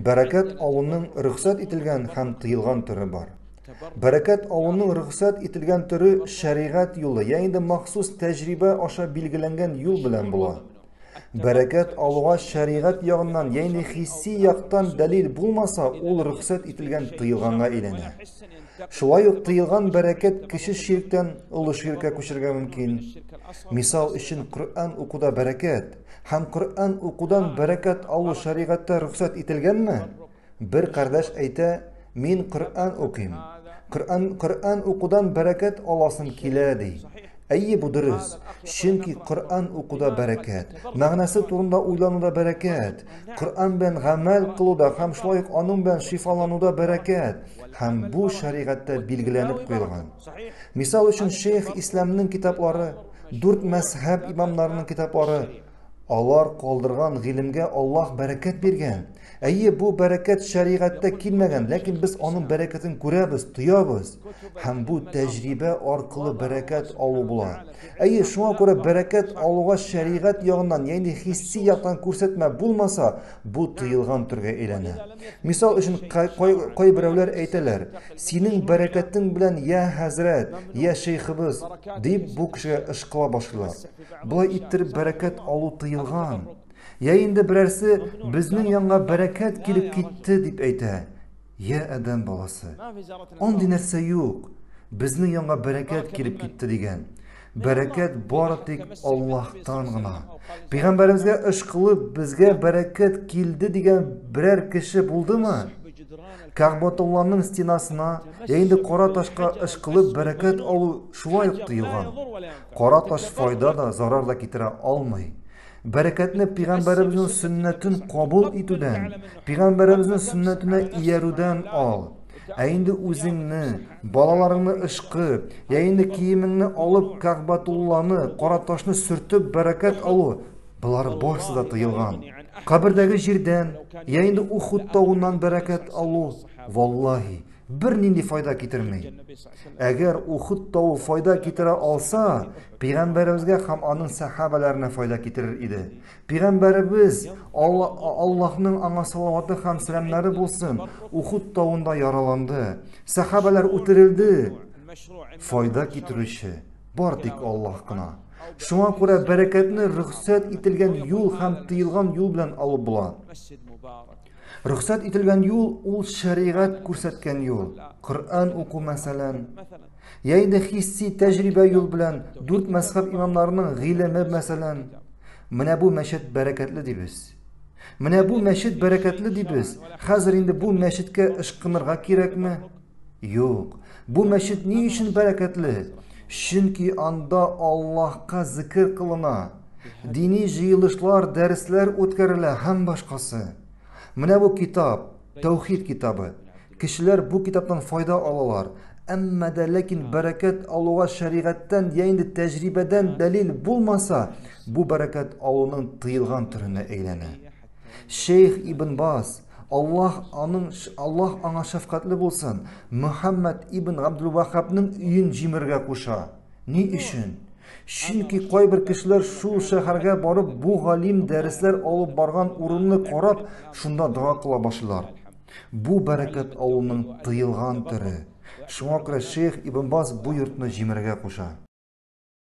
Бәрәкәт авының рөхсәт ителгән һәм тыелган төре бар. Бәрәкәт авының рөхсәт ителгән төре шәригать юлы, я инде махсус тәҗрибә аша билгеләнгән юл белән була. Бәрәкәт авыга шәригать ягыннан, я инде хисси яктан дәлил булмаса, ул рөхсәт ителгән тыелганга әйләнә. Шулай ук тыелган бәрәкәт кече ширктән олы ширкә күчергә мөмкин. Мисал өчен, Коръән укуда бәрәкәт, Һәм Коръән укудан бәрәкәт алу шәригатьтә рөхсәт ителгәнме? Бер кардәш әйтә, мин Коръән укыйм. Коръән Коръән укудан бәрәкәт аласым килә ди. Әйе, бу дөрес. Чөнки Коръән укуда бәрәкәт, мәгънәсе турында уйлануда бәрәкәт, Коръән белән гамәл кылуда һәм шулай ук аның белән шифалануда бәрәкәт, һәм бу шәригатьтә билгеләнеп куелган. Мисал өчен, шейх Исламның китаплары Дүрт мәзһәб имамнарының китаплары, алар калдырган гыйлемгә Аллаһ бәрәкәт биргән. Әйе, бу бәрәкәт шәригатьтә килмәгән, ләкин без аның бәрәкәтен күрәбез, тоябыз. Һәм бу тәҗрибә аркылы бәрәкәт алу була. Әйе, шуңа күрә бәрәкәт алуга шәригать ягыннан, ягъни хисси яктан күрсәтмә булмаса, бу тыелган төргә әйләнә. Мисал өчен, кайберәүләр әйтәләр, синең бәрәкәтең белән я хәзрәт, я шейхыбыз, дип бу кешегә ышкыла башлыйлар. Болай иттереп бәрәкәт алу тыелган. Я инде берәрсе безнең янга бәрәкәт килеп китте дип әйтә. Я адәм баласы. Андый нәрсә юк. Безнең янга бәрәкәт килеп китте дигән. Бәрәкәт бары тик Аллаһтан гына. Пәйгамбәребезгә эш кылып, безгә бәрәкәт килде дигән берәр кеше булдымы? Кәгъбатулланың стенасына я инде кара ташка эш кылып бәрәкәт алу шулай ук тыелган. Кара таш файда да, зарар да китерә алмый. Бәрәкәтне пәйгамбәребезнең сөннәтен кабул итүдән, пәйгамбәребезнең сөннәтенә иярүдән ал. Ә инде үзеңне, балаларыңны ышкы, я инде киемеңне алып, Кәгъбәтулланы, кара ташны сөртеп бәрәкәт алу, болар барысы да тыелган. Кабердәге җирдән, я инде Ухуд тавыннан бәрәкәт алу, валлаһи, бернинди файда китерми. Әгәр Ухуд тавы файда китерә алса, пәйгамбәребезгә һәм аның сәхабәләренә файда китерер иде. Пигамбәребез, Алла, Аллаһның аңа салаваты һәм сәламнәре булсын, Ухуд тавында яраланды. Сәхабәләр үтерелде. Файда китерүче бар тик Аллаһ кына. Шуңа күрә бәрәкәтне рөхсәт ителгән юл һәм тыелган юл белән алып була. Рөхсәт ителгән юл ул шәригать күрсәткән юл. Коръән уку мәсәлән. Я инде хисси тәҗрибә юл белән дүрт мәзхәб имамнарының гыйлеме, мәсәлән, менә бу мәчет бәрәкәтле дибез. Менә бу мәчет бәрәкәтле дибез. Хәзер инде бу мәчеткә ышкынырга кирәкме? Юк. Бу мәчет ни өчен бәрәкәтле? Чөнки анда Аллаһка зикр кылына, дини җыелышлар, дәресләр үткәрелә һәм башкасы. Менә бу китап, Тәүхид китабы. Кешеләр бу китаптан файда алалар. Әмма дә ләкин бәрәкәт алуга шәригатьтән я инде тәҗрибәдән дәлил булмаса, бу бәрәкәт алуның тыелган төренә әйләнә. Шейх Ибн Баз, Аллаһ аның Аллаһ аңа шәфкатьле булсын, Мөхәммәд ибн Габдул-Вахабның өен җимергә куша. Ни өчен? Чөнки кайбер кешеләр шул шәһәргә барып бу галим дәресләр алып барган урынны карап, шунда дога кыла башлыйлар. Бу бәрәкәт авылның тыелган төре. Шуңа күрә шәех Ибн Баз бу йортны җимерергә куша.